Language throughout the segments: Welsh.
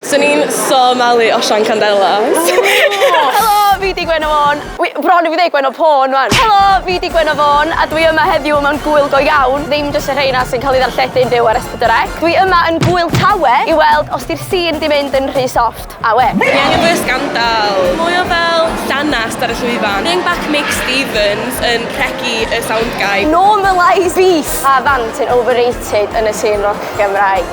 Swn i'n so malu osian candelas. Helo, fi 'di Gwenno Fôn. Wi bron i fi ddeud Gwenno Pôn wan. Helo, fi 'di Gwenno Fôn a dwi yma heddiw mewn gŵyl go iawn, ddim jyst y rheina sy'n cael eu ddarlledu'n fyw ar S4C. Dwi yma yn Gŵyl Tawe i weld os 'di'r sîn 'di mynd yn rhy soft. Awe! Ni angen mwy o sgandal. Mwy o fel llanast ar y llwyfan. Bring back Mick Stevens yn rhegi y sound guy. Normalise beef! Pa fand sy'n overrated yn y sîn roc Gymraeg?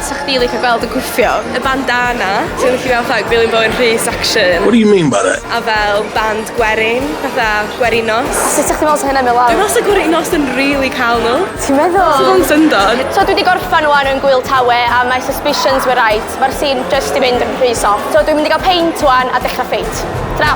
'Sa chdi licio gweld yn gwffio? Y bandana. Ti'n licio gweld fatha Gwilym Bowen Rhys action? What do you mean by that? A fel band gwerin, fatha gwerin nos. A sut 'sa chdi'n meddwl 'sa hynna'n mynd lawr? Dwi meddwl 'sa gwerin nos yn rili cael nhw. Ti'n meddwl? Sa fo'n syndod. So dwi 'di gorffan ŵan yn Gwyl Tawe a mae suspicions were right. Mae'r scene jyst 'di mynd yn rhy soft. So dwi'n mynd i gael peint ŵan a dechrau ffeit. Tara!